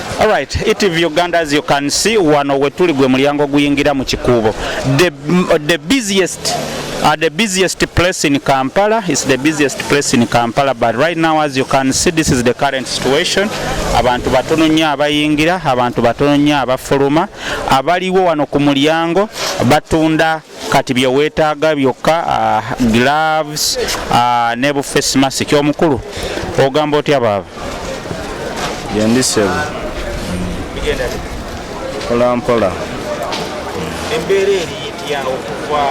Alright, ETV Uganda as you can see wano wetuli gwe mulyango guyingira mu kikuubo the, the busiest Uh, the busiest place in Kampala is the busiest place in Kampala but right now as you can see this is the current situation abantu batono nnyo abayingira abantu batono nnyo abafuluma abaliwo wano ku mulyango batunda kati bye weetaaga byokka ah, gloves ah, ne bu face mask omukulu ogamba otya baaba yendi sebo mpola mpola embeera eri itya okuva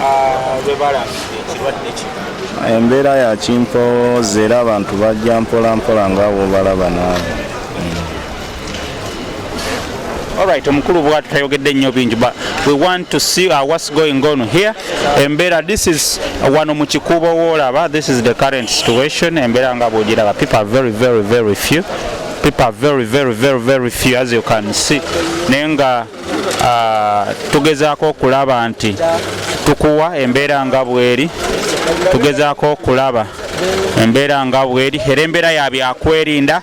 ah, lwe balambidde ekirwadde kino embeera ya kimpowoza era abantu bajja mpola mpola nga wobalaba naawe Alright, omukulu bwatu tayogedde nnyo bingi but we want to see uh, what's going on here embeera this is uh, wano mu kikuubo woolaba this is the current situation embeera nga bwogiraba people are very very very few people are very very very very few as you can see naye nga uh, tugezaako okulaba nti tukuwa embeera nga bweri tugezaako okulaba embeera nga bweri era embeera ya byakwerinda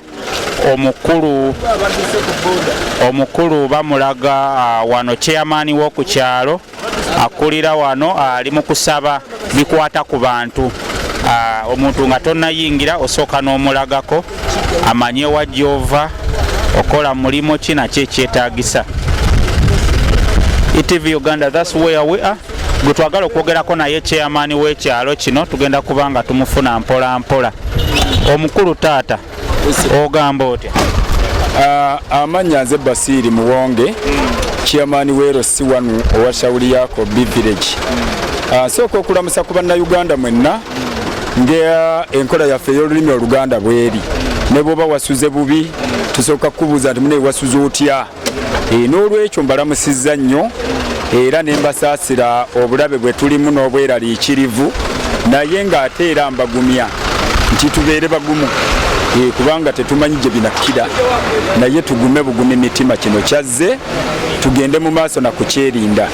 omukulu omukulu bamulaga ah, wano chairman woku kyalo akulira wano ah, ali mu kusaba bikwata ku bantu ah, omuntu nga tonayingira osooka n'omulagako amanye wa gyova okola mulimu ki nakyo ekyetagisa etv uganda thats where we are gwe twagala okwogerako naye chairman w'ekyalo kino tugenda kuba nga tumufuna mpola mpola omukulu taata ogamba otya ah, amanya nze basiiri muwonge chairman wero si wanu owa shawuli yako b village ah, nsooka okulamusa ku bannayuganda mwenna nga enkola yaffe ey'olulimi oluganda bweri ne bwoba wasuze bubi tusooka kukubuuza nti mune wasuze otya e, n'olwekyo mbalamusizza nnyo era ne mbasaasira obulabe bwe tulimu n'obweraliikirivu naye ng'ate era mbagumya nti tubeere bagumu e, kubanga tetumanyi gye binakkira naye tugume bugumi mitima kino kyazze tugende mu maaso na kukyerinda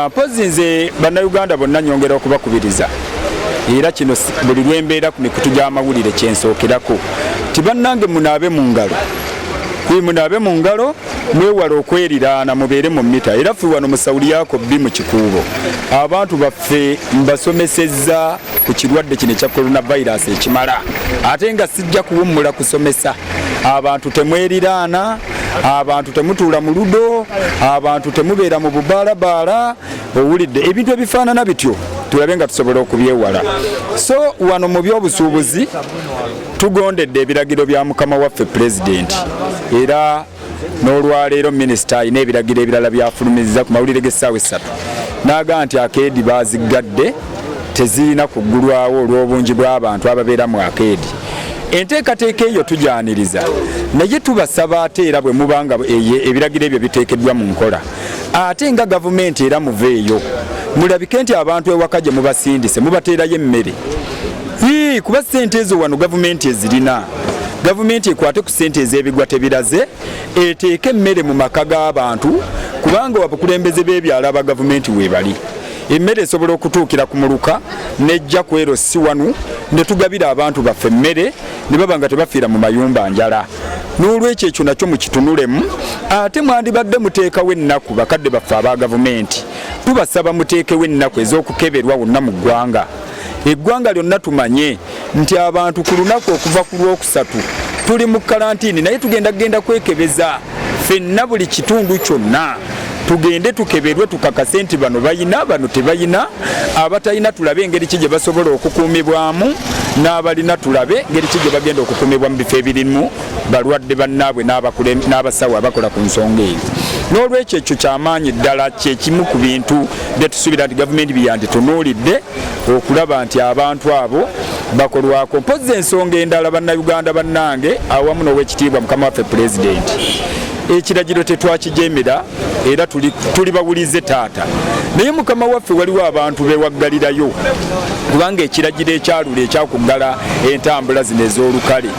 mpozi nze bannayuganda bonna nyongera okubakubiriza era kino buli lwembeera ku mikutu gy'amawulire kyensookerako ti bannange munaabe mu ngalo Hii munaabe mu ngalo mwewale okweriraana mubeere mu mita era ffe wano mu sauliyako bbi mu kikuubo abantu baffe mbasomesezza ku kirwadde kino ekya coronavirus ekimala ate nga sijja kuwummula kusomesa abantu temweriraana abantu temutuula mu ludo abantu temubeera mu bubaalabaala owulidde ebintu ebifaanana bityo tulabe nga tusobola okubyewala so wano mu byobusuubuzi Tugondedde ebiragiro bya mukama waffe Pulezidenti era n'olwaleero minisita alina ebiragiro ebirala byafulumizza ku mawulire g'essaawa essatu n'agamba nti akeedi baaziggadde tezirina kuggulwawo olw'obungi bw'abantu ababeera mu akeedi enteekateeka eyo tugyaniriza naye tubasaba ate era bwe muba nga ebiragiro ebyo biteekeddwa mu nkola ate nga gavumenti era muveeyo mulabike nti abantu ewaka gye mubasindise mubateerayo emmere kuba sente ezo wano gavumenti ezirina gavumenti ekwate ku sente ez'ebigwa tebiraze eteeke emmere mu maka g'abantu kubanga abakulembeze b'ebyalo aba gavumenti weebali emmere esobola okutuukira ku muluka nejja ku ero si wanu ne tugabira abantu baffe emmere ne baba nga tebafiira mu mayumba njala n'olwekyo ekyo nakyo mukitunulemu ate mwandibadde muteekawo ennaku bakadde baffe aba gavumenti tubasaba muteekewo ennaku ez'okukeberwa wonna mu ggwanga eggwanga lyonna tumanye nti abantu ku lunaku okuva ku lwokusatu tuli mu kalantiini naye tugenda kugenda kwekebeza fenna buli kitundu kyonna tugende tukeberwe tukakase nti bano bayina bano tebayina abatalina tulabe engeri ki gye basobola okukuumibwamu n'abalina tulabe ngeri ki gye bagenda okukuumibwa mu bifo ebirimu balwadde bannaabwe n'abasawo abakola ku nsonga eyo n'olwekyo ekyo kyamaanyi ddala kyekimu ku bintu byetusuubira nti gavumenti byeyanditunuulidde okulaba nti abantu abo bakolwako mpozzi ensonga endala bannayuganda bannange awamu n'owekitiibwa mukama waffe pulezidenti ekiragiro tetwakijeemera era tuli bawulize taata naye mukama waffe waliwo abantu bewaggalirayo kubanga ekiragiro ekyalula ekyakuggala entambula zino ez'olukale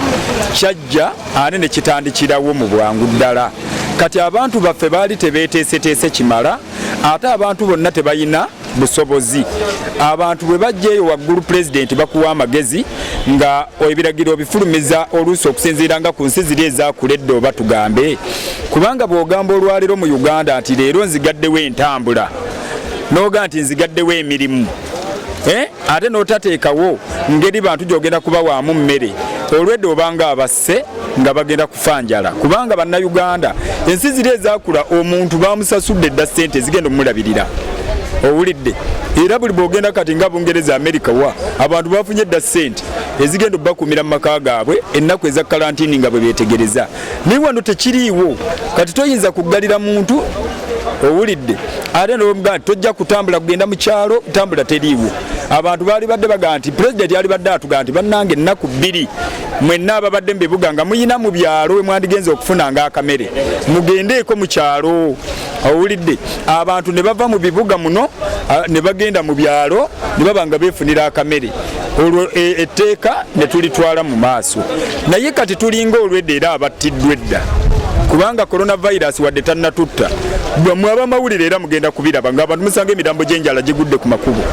kyajja ate ne kitandikirawo mu bwangu ddala kati abantu baffe baali tebeeteeseteese kimala ate abantu bonna tebalina busobozi abantu bwe bajja eyo waggulu pulezidenti bakuwa amagezi nga ebiragiro bifulumiza oluusi okusinziira nga ku nsi ziri ezakula edda oba tugambe kubanga bw'ogamba olwaleero mu uganda nti leero nzigaddewo entambula n'oga nti nzigaddewo emirimu eh? ate n'otateekawo ngeri bantu gy'ogenda kuba waamu mmere olwedde obanga abas baffe nga bagenda kufa njala kubanga bannayuganda ensi ziri ezakula omuntu bamusasudde dda ssente zigenda omulabirira owulidde era buli bwogenda kati nga bungereza america wa abantu bafunye dda ssente ezigenda okubakuumira mu maka gaabwe ennaku eza kalantini nga bwe beetegereza naye wano tekiriiwo kati toyinza kuggalira muntu owulidde ate nomugaa nti tojja kutambula kugenda mu kyalo tambula teriiwo abantu baali badde bagaa nti pulezidenti yali badde atugaa nti bannanga ennaku bbiri mwenna ababadde mu bibuga nga muyina mu byalo we mwandigenza okufunanga akamere mugendeeko mu kyalo owulidde abantu ne bava mu bibuga muno ne bagenda mu byalo ne baba nga beefunira akamere olwo e, etteeka ne tulitwala mu maaso naye kati tulinga olwedda era abattiddwa edda kubanga coronavirus wadde tannatutta bwemwe abamawulire era mugenda kubiraba nga abantu musanga emirambo gyenjala gigudde ku makubo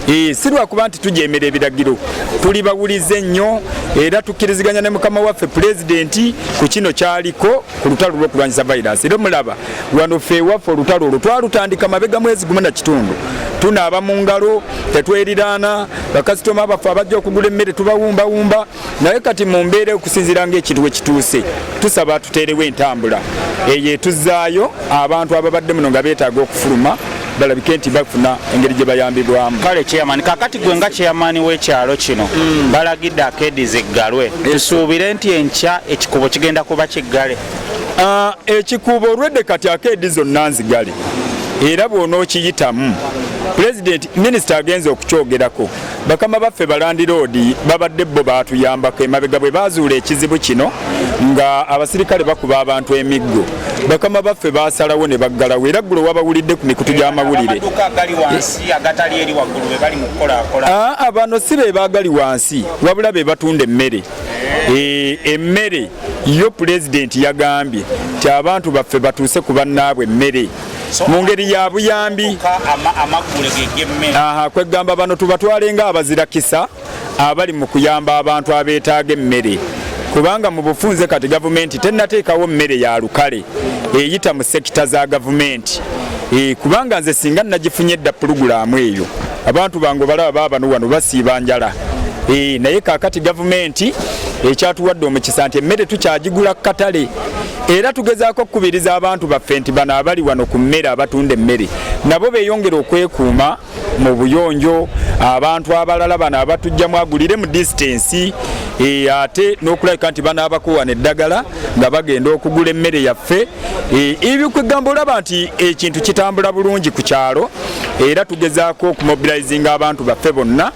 Eh, si lwakuba nti tujeemera ebiragiro tuli bawulize ennyo era tukkiriziganya ne mukama waffe pulezidenti ku kino kyaliko ku lutalo lw'okulwanyisa vayirasi era omulaba wano fe ewaffe olutalo olwo twalutandika mabega mwezi gumu na kitundu tunaaba mu ngalo tetweriraana bakasitoma baffe abajja okugula emmere tubawumbawumba naye kati mu mbeera okusinziira ng'ekintu we kituuse tusaba tuteerewo entambula eyo etuzaayo abantu ababadde muno nga beetaaga okufuluma balabike nti bafuna engeri gye bayambibwamu kale chairman kakati gwe nga chairman w'ekyalo kino mm. balagidde akeedi ziggalwe tusuubire nti enkya ekikubo kigenda kuba kiggale ah, ekikubo olwedde kati akeedi zonna nzigale era bw'onookiyitamu pulezidenti minisita agenze okukyogerako Bakama baffe balandiroodi babadde bo baatuyambako emabega bwe baazuula ekizibu kino nga abasirikale bakuba abantu emiggo bakama baffe baasalawo ne baggalawo era ggulo wabawulidde ku mikutu gy'amawulire abano si be baagali wansi wabula be batunda emmere eh, emmere yo pulezidenti yagambye ti abantu baffe batuuse ku bannaabwe emmere mu ngeri ya buyambi kwegamba bano tubatwale nga abazirakisa abali mu kuyamba abantu abeetaaga emmere kubanga mu bufunze kati gavumenti tennateekawo mmere ya lukale eyita mu sekita za gavumenti e, kubanga nze singa nagifunye edda pulugulaamu eyo abantu bange balaba baabano wano basiiba njala e, naye kaakati gavumenti ekyatuwadde omukisa nti emmere tukyagigula ku katale era tugezaako okukubiriza abantu baffe nti bano abali wano ku mmere abatunda emmere nabo beeyongere okwekuuma mu buyonjo abantu abalala bano abatujjamu agulire mu disitansi e, ate n'okulabika nti banaabakuwana eddagala nga bagenda okugula emmere yaffe e, ebikwegamba olaba nti ekintu kitambula bulungi ku kyalo era tugezaako okumobilizinga abantu baffe bonna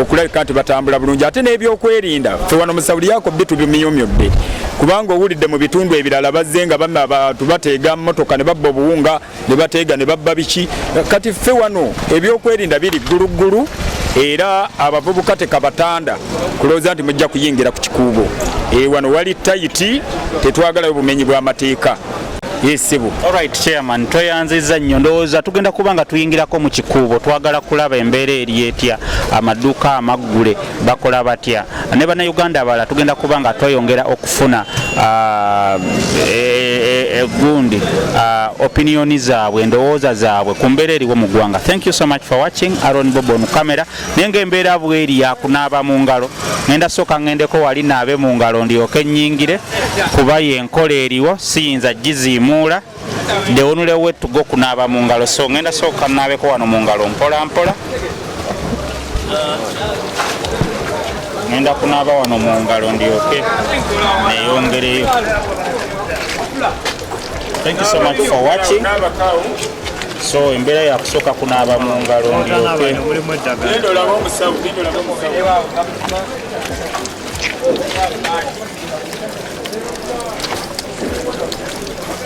okulabika nti batambula bulungi ate n'ebyokwerinda fe wano musawuliyako bbi tubimiyumyudde kubanga owulidde mu bitundu ebirala bazze nga bama abantu bateega motoka ne babba obuwunga ne bateega ne babba biki kati ffe wano ebyokwerinda biri gguluggulu era abavubuka tekabatanda kulowooza nti mujja kuyingira ku kikuubo ewano wali tayiti tetwagalayo bumenyi bw'amateeka yesebo alright chairman tweyanziza nnyo ndowooza tugenda kuba nga tuyingirako mu kikuubo twagala kulaba embeera eri etya amaduuka amaggule bakola batya ne bannayuganda abalala tugenda kuba nga tweyongera okufuna ah, e, e, e, gundi ah, opiniyoni zaabwe endowooza zaabwe ku mbeera eriwo mu ggwanga thank you so much for watching aron bobo on camera naye ng'embeera bweri yakunaaba mu ngalo ngenda sooka ngendeko wali naabe mu ngalo ndyoke nnyingire kuba yenkola eriwo siyinza giziimuula dewonule wetuga okunaaba mu ngalo so ngenda sooka naabeko wano mu ngalo mpola mpola ngenda kunaaba wano mu ngalo ndyoke neyongereyo Thank you so much for watching. so embeera yakusooka kunaaba mu ngalo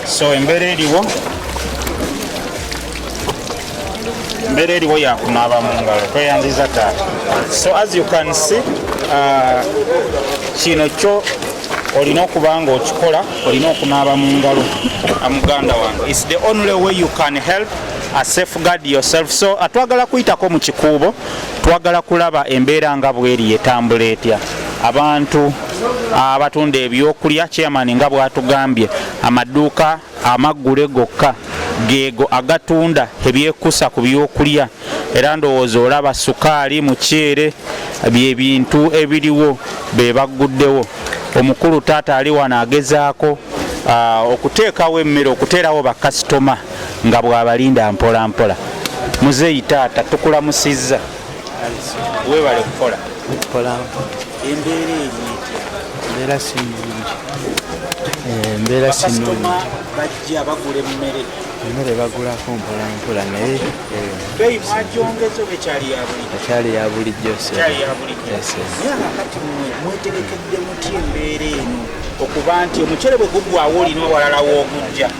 so embeera eriwo embeera eriwo yakunaaba mu ngalo tweyanziza taata so as you can see uh, kino kyo olina okuba nga okikola olina okunaaba mu ngalo muganda wange is the only way you can help a safeguard yourself so atwagala kuyitako mu kikuubo twagala kulaba embeera nga bweri etambula etya abantu abatunda ebyokulya chairman nga bwatugambye amaduuka amaggule gokka geego agatunda ebyekusa ku byokulya era ndowooza olaba sukaali muceere bye bintu ebiriwo be bagguddewo omukulu taata ali wano agezaako ah, okuteekawo emmere okuteerawo bakasitoma nga bw'abalinda mpolampola muzeeyi taata tukulamusizza webale kukola tukola embeera eri embeera si nungi eh, embeera si nungi bajja bagula emmere emmere bagulako mpola mpola naye eh, akyali ya bulijjo mwetegekedde mutya embeera eno okuba nti omucere bwe gugwawo olina owalala w'ogujja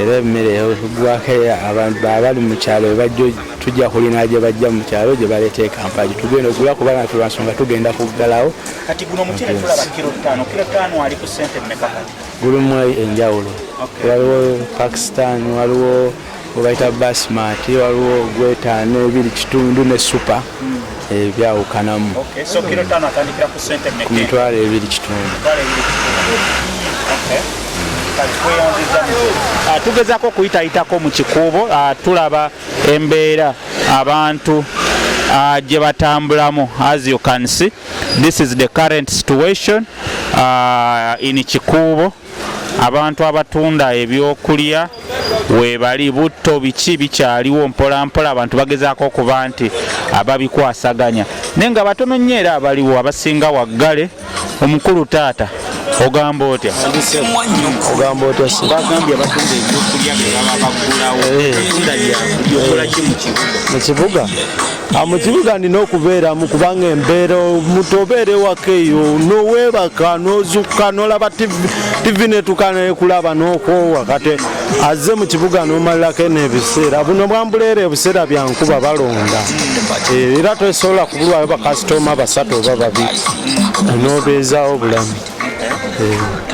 era emmere egwako abantu babali mu kyalo ebajjo tujja kulina gye bajja mu kyalo gye baleeta ekampagi tugenda okugula kuba natu lwansonga tugenda kuggalawo gulimu enjawulo waliwo pakistan waliwo webayita basmat waliwo gwetaano ebiri kitundu ne supa hmm. ebyawukanamu ku mitwalo ebiri kitundu ah, tugezako okuyitayitako mu kikuubo ah, tulaba embeera abantu ah, gye batambulamu as you can see this is the current situation in kikuubo Abantu abatunda ebyokulya webali butto biki bikyaliwo mpolampola abantu bagezaako okuba nti ababikwasaganya naye nga batono nnyo era abaliwo abasinga waggale omukulu taata ogamba otya ogamba otya bagambye abatunda ebyokulya bebaba bagulawo eh. mu kibuga mu kibuga nina okubeeramu kubanga embeera omuntu obeera ewaka eyo noweebaka nozukka nolaba tivi netuka nekulaba nokwowa kati azze mu kibuga nomalirako eno ebiseera buno bwambuleera ebiseera byankuba balonda eh, era tosobola kubulwayo bakasitoma basatu oba babi nobeezawo bulamu eh.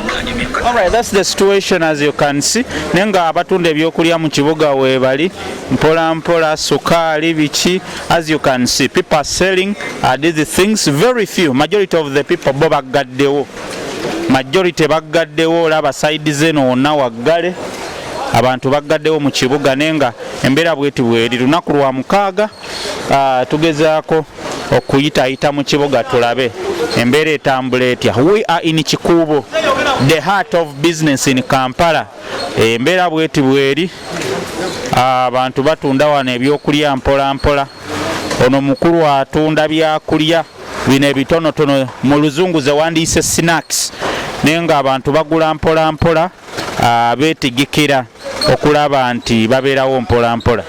All right, that's the situation as you can see. Nenga abatunda ebyokulya mu kibuga webali mpola mpola sukali biki as you can see people are selling uh, these things very few majority of the people bo baggaddewo majority baggaddewo olaba side zeno wonna waggale abantu baggaddewo mu kibuga naye nga embeera bweti bweri lunaku lwa mukaaga uh, tugezaako okuyitayita mu kibuga tulabe embeera etambula etya we are in kikuubo the heart of business in kampala embeera bweti bweri abantu batunda wano ebyokulya mpola mpola ono mukulu atunda byakulya bino ebitonotono mu luzungu zewandiyise snacks naye nga abantu bagula mpola mpola ah, betigikira okulaba nti babeerawo mpola mpola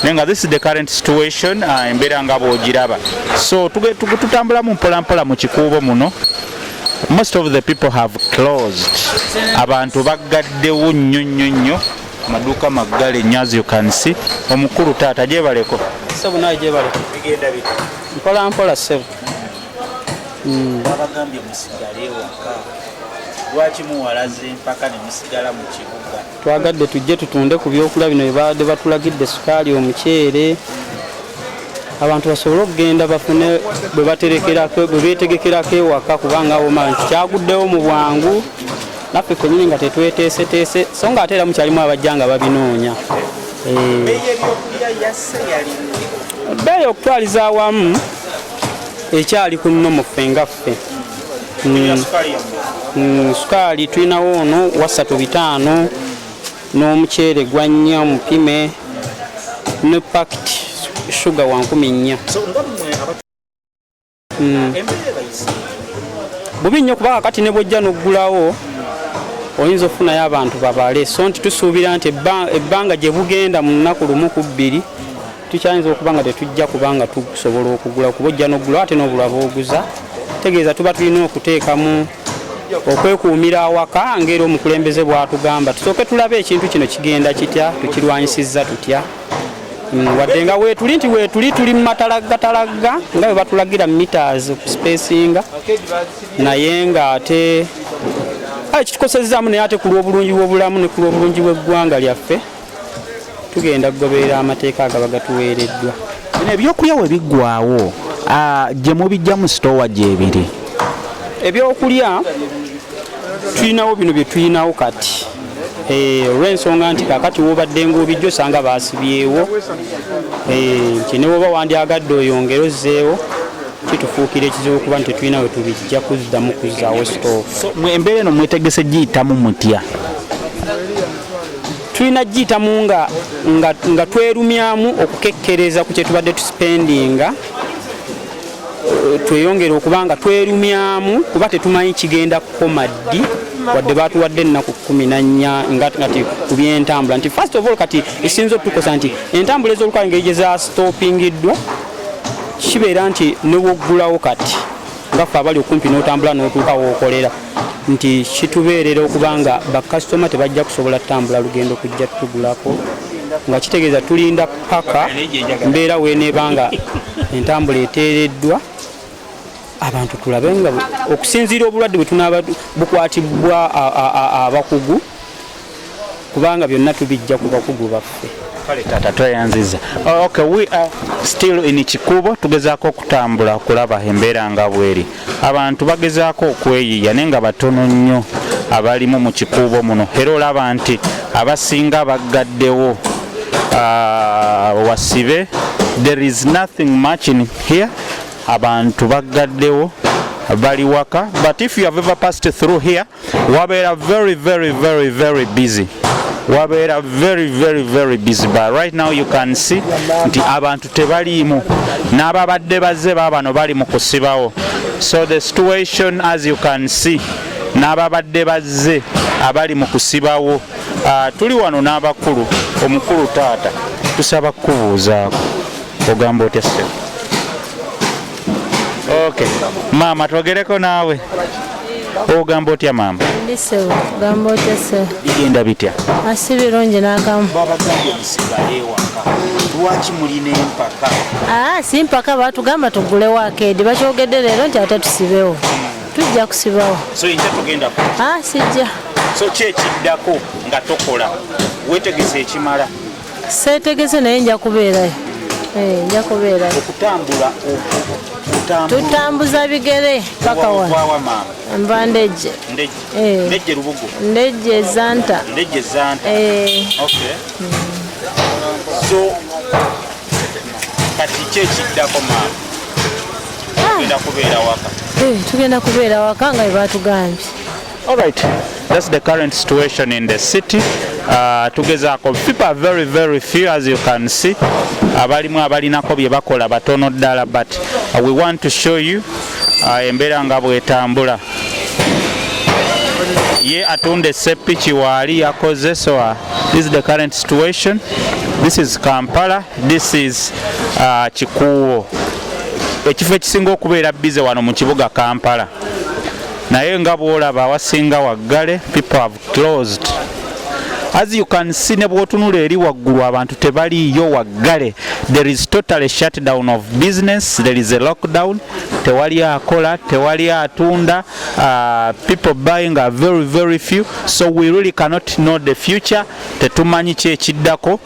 naye nga this is the current situation ah, embeera nga bwogiraba so tutambulamu mpola mpola mu kikuubo muno most of the people have closed abantu baggaddewo nnyo nnyo nnyo amaduuka maggale nnyo as you can see omukulu taata gyebaleko sebo naye gyebaleko mpola mpola sebo hmm. babagambye musigale waka lwaki muwalaze mpaka ne musigala mu kibuga twagadde tujje tutunde ku byokula bino byebabadde batulagidde sukaali omuceere abantu basobole okugenda bafune bwe betegekerako ewaka kubanga woma nti kyaguddewo mu bwangu naffe fenyini nga tetweteeseteese so nga ate era mukyalimu abajja nga babinoonya eh. ebbeeyi okutwaliza awamu ekyali ku nno muffe nga ffe mm. mm, sukaali tulinawo ono wasatu bitaano n'omuceere gwa nnya omupime ne pakiti shuga wa nkumi nnya mm. bubi nnyo kubanga kati ne bwojja n'oggulawo oyinza okufunayo abantu babale so nti tusuubira nti ebbanga gye bugenda mu lunaku lumu ku bbiri tukyayinza okuba nga tetujja kuba nga tusobola okugula kuba ojja nogula ate nobulwa boguza tegeeza tuba tulina okuteekamu okwekuumira awaka ngaera omukulembeze bwatugamba tusooke tulabe ekintu kino kigenda kitya tukirwanyisizza tutya mm, wadde nga wetuli nti wetuli tuli mu matalaggatalagga nga bwe batulagira mitas okusipesinga naye nga ate kitukosezaamu naye ate ku lw'obulungi bw'obulamu ne ku lw'obulungi bw'eggwanga lyaffe tugenda kugoberera amateeka agaba gatuweereddwa bino ebyokulya we biggwawo gye mubijja mu sitoowa gyebiri ebyokulya tulinawo bino bye tulinawo kati eh, olw'ensonga nti kakati wobadde ngaobijja osanga baasibyewo eh, nti ne woba wandyagadde oyongere ozzeewo kitufuukira ekizibu kuba nti tetulina we tubijja kuzzamu kuzzaawo sitoowa embeera eno mwetegese giyitamu mutya tulina giyitamu nga, nga, nga twerumyamu okukekkereza ku kye tubadde tusipendinga tweyongere okuba nga twerumyamu kuba tetumanyi kigenda kukoma ddi wadde batuwadde ennaku kumi nanya ngati ku byentambula nti first of all kati esinza otukosa nti entambula ez'olukale ngeri gye zastopingiddwa kibeera nti newoggulawo kati nga ffe abali okumpi n'otambula n'otuuka wookolera nti kitubeerera okuba nga bakasitoma tebajja kusobola kutambula lugendo kujja tugulako nga kitegeeza tulinda paka mbeera weneeba nga entambula eteereddwa abantu tulabe nga okusinziira obulwadde bwe tunaaba bukwatibwa abakugu kubanga byonna tubijja ku bakugu baffe kale taata tweyanziza ok we are still in kikuubo tugezaako okutambula okulaba embeera nga bweri abantu bagezaako okweyiiya naye nga batono nnyo abalimu mu kikuubo muno era olaba nti abasinga baggaddewo ah, wasibe there is nothing much in here abantu baggaddewo bali waka but if you have ever passed through here wabeera very very very very busy wabeera very very very busy but right now you can see nti abantu tebaliimu n'ababadde bazze baabano bali mu kusibawo so the situation as you can see n'ababadde bazze abali mu kusibawo ah, tuli wano n'abakulu omukulu taata tusaba kukubuuzaako ogamba otya sebo Okay. Mama twogereko naawe ogamba otya maama ndisewo gamba otya se bigenda bitya asi ah, birungi nakamu babagambye musigale ewaka lwaki mulina empaka aa ah, si mpaka batugamba tugulewo akeedi bakyogedde leero nti ate tusibewo tujja kusibawo so inja tugenda ku aa ah, sijja so kyekiddako nga tokola wetegese ekimala Seetegese naye nja kubeerayo, eh, nja kubeerayo. Okutambula tutambuza bigere paka wano nva ndejje ndejje lubugu ndejje zanta ndejje zanta eh. okay mm. so kati kyekiddako maama ah. tugenda kubeera waka eh, tugenda kubeera waka nga bwe batugambye All right. That's the current situation in the city. Uh, tugezaako people are very very few as you can see abalimu abalinako bye bakola batono ddala but uh, we want to show you uh, embeera nga bwetambula ye atunda esepiki waali yakoze so uh, this is the current situation this is kampala this is uh, kikuuwo ekifo ekisinga okubeera bize wano mu kibuga kampala naye nga bwolaba awasinga waggale people have closed as you can see ne bwotunula eri waggulu abantu tebaliiyo waggale there is totally shutdown of business there is a lockdown tewali akola tewali atunda uh, people buying are very very few so we really cannot know the future tetumanyi kyekiddako uh,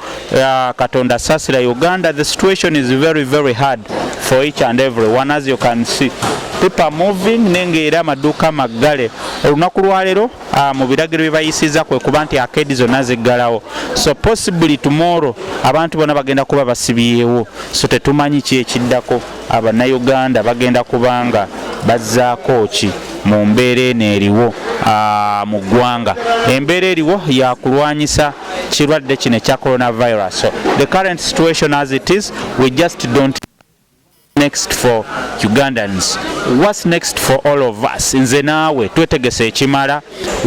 katonda sasira uganda the situation is very very hard for each and every one as you can see pipa moving nenge era amaduuka maggale olunaku lwaleero uh, mu biragiro bye bayisiza kwe kuba nti akeedi zonna ziggalawo so possibly tomorrow abantu bona bagenda kuba basibiyeewo so tetumanyi kyekiddako Abannayuganda bagenda kubanga bazzaako ki mu mbeera eno eriwo mu ggwanga? Embeera eriwo ya kulwanyisa kirwadde kino ekya coronavirus. So the current situation as it is, we just don't next for Ugandans. What's next for all of us? Nze naawe twetegese ekimala.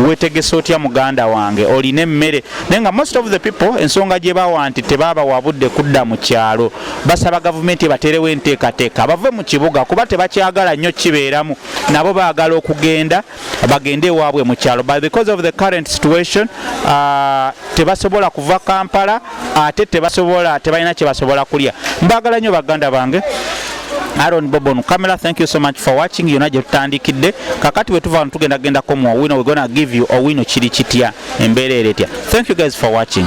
wetegese otya muganda wange olina emmere naye nga most of the people ensonga gye bawa nti tebaaba wabudde kudda mu kyalo basaba gavumenti ebateerewo enteekateeka bave mu kibuga kuba tebakyagala nnyo kibeeramu nabo baagala okugenda bagende ewaabwe mu kyalo but because of the current situation uh, tebasobola kuva kampala ate tebasobola tebalina kyebasobola kulya mbagala nnyo baganda bange Aaron Bobon camera thank you so much for watching yona gye tutandikidde kakati bwe tuva wano tugenda gendako mu owino we gonna give you owino kiri kitya embeera eretya thank you guys for watching